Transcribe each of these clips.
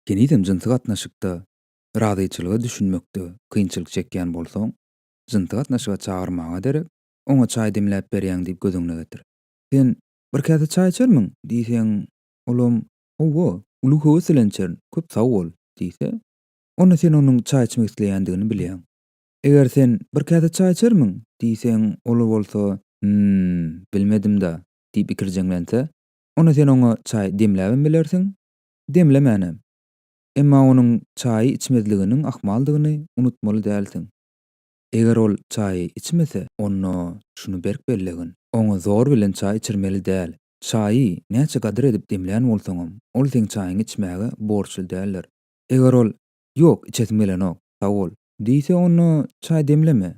Henizem jynsy gatnaşykda razyçylyga düşünmekde kynçylyk çekýän bolsaň, jynsy gatnaşyga çagyrmaga derek, oňa çaý demläp berýäň diýip göz öňüne getir. Sen, Bir käse çaý içermiň? diýseň, olam, Hawa, uly höwes bilen içerin, köp sag bol! diýse, onda sen onuň çaý içmek isleýändigini bilýäň. Eger sen, Bir käse çaý içermiň? diýseň, ol bolsa, Hmm, bilmedim-dä, diýip ikirjeňlense, onda sen oňa çaý demläbem bilersiň, demlemänem. Emma onuň çaýy içmezliginiň ahmaldygyny unutmaly dälsiň. Eger ol çaýy içmese, onda şuny berk bellegin, oňa zor bilen çaý içirmeli däl. Çaýy näçe gadyr edip demlän bolsaňam, ol seň çaýyňy içmäge borçly däldir. Eger ol, Ýok, içesim gelenok, sag bol! diýse, onda çaý demleme.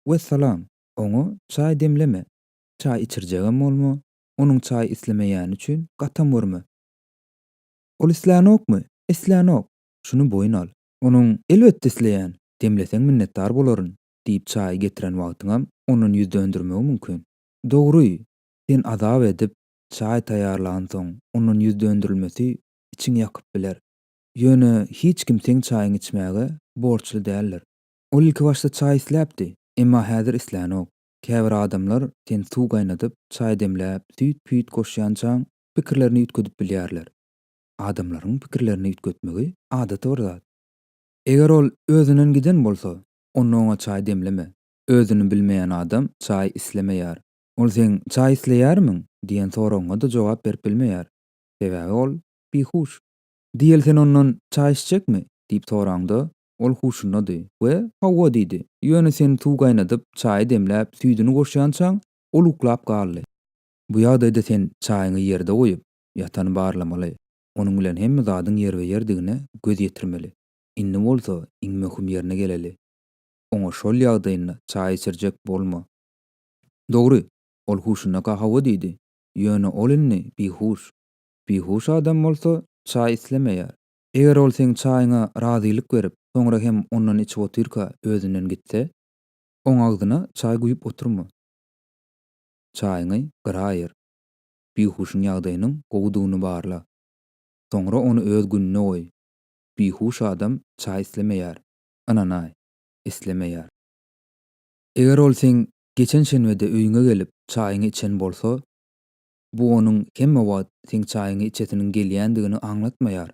Wessalam! Oňa çaý demleme. Çaý içirjegem bolma, onuň çaý islemeýäni üçin gatam görme. Ol islänokmy? Islänok. Şuny boýun al. Onuň, Elbetde isleýän. Demleseň minnetdar bolaryn, diýip çaýy getiren wagtyňam ondan ýüz döndermegi mümkin. Dogry, sen azap edip, çaý taýýarlansoň, ondan ýüz dönderilmesi içiňi ýakyp biler. Ýöne hiç kim seň çaýyňy içmäge borçly däldir. Ol ilkibaşda çaý isläpdi, emma häzir islänok. Käbir adamlar sen suw gaýnadyp, çaý demläp, süýt-püýt goşýançaň, pikirlerini üýtgedip bilýärler. Adamlaryň pikirlerini üýtgetmegi adaty bir zat. Eger ol özünden giden bolsa, onda oňa çaý demleme. Özüni bilmeýän adam çaý islemeýär. Ol seň çaý isleýärmiň? diýen soragyňa-da jogap berip bilmeýär. Sebäbi ol bihuş. Diýel sen ondan çaý içjekmi? diýip soraňda, Ol huşundady we Hawa diýdi. Ýöne sen suw gaýnadyp, çaýy demläp, süýdüni goşýançaň, ol uklap galdy. Bu ýagdaýda sen çaýyňy ýerde goýup, ýatany barlamaly. Onuň bilen hemme zadyň ýerbe-ýerdigine göz ýetirmeli. Indi bolsa iň möhüm ýerine geleli. Oňa şol ýagdaýynda çaý içirjek bolma. Dogry, ol huşundaka Hawa diýdi. Ýöne ol indi bihuş. Bihuş adam bolsa çaý islemeýär. Eger ol seň çaýyňa razylyk berip, soňra hem ondan içip otyrka özünden gitse, oň agzyna çaý guýup oturma. Çaýyňy gyra aýyr. Bihuşyň ýagdaýynyň gowudygyny barla. Soňra ony öz gününe goý. Bihuş adam çaý islemeýär. Ynanaý, islemeýär. Eger ol seň geçen şenbede öýüňe gelip, çaýyňy içen bolsa, bu onuň hemme wagt seň çaýyňy içesiniň gelýändigini aňlatmaýar.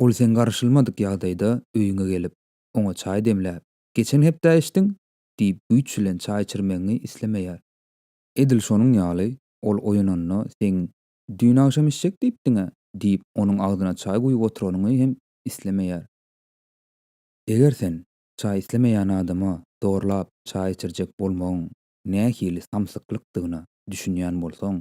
Ol sen garaşylmadyk ýagdaýda öýüňe gelip, oňa çaý demläp, Geçen hepdä içdiň? diýip güýç bilen çaý içirmegiňi islemeýär. Edil şonuň ýaly, ol oýananda seň Düýn agşam içjek diýipdiň-ä diýip, onuň agzyna çaý guýup oturanyňy hem islemeýär. Eger sen çaý islemeýän adama zorlap çaý içirjek bolmagyň nähili samsyklykdygyna düşünýän bolsaň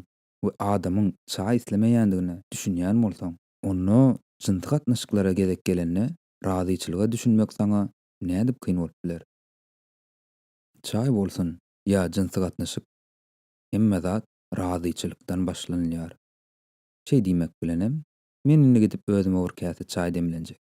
we adamyň çaý islemeýändigine düşünýän bolsaň, onda jynsy gatnaşyklara gezek gelende razyçylyga düşünmek saňa nädip kyn bolup biler? Çaý bolsun ýa jynsy gatnaşyk, hemme zat razyçylykdan başlanylýar. Şeý diýmek bilenem, men indi gidip özüme bir käse çaý demlenjek.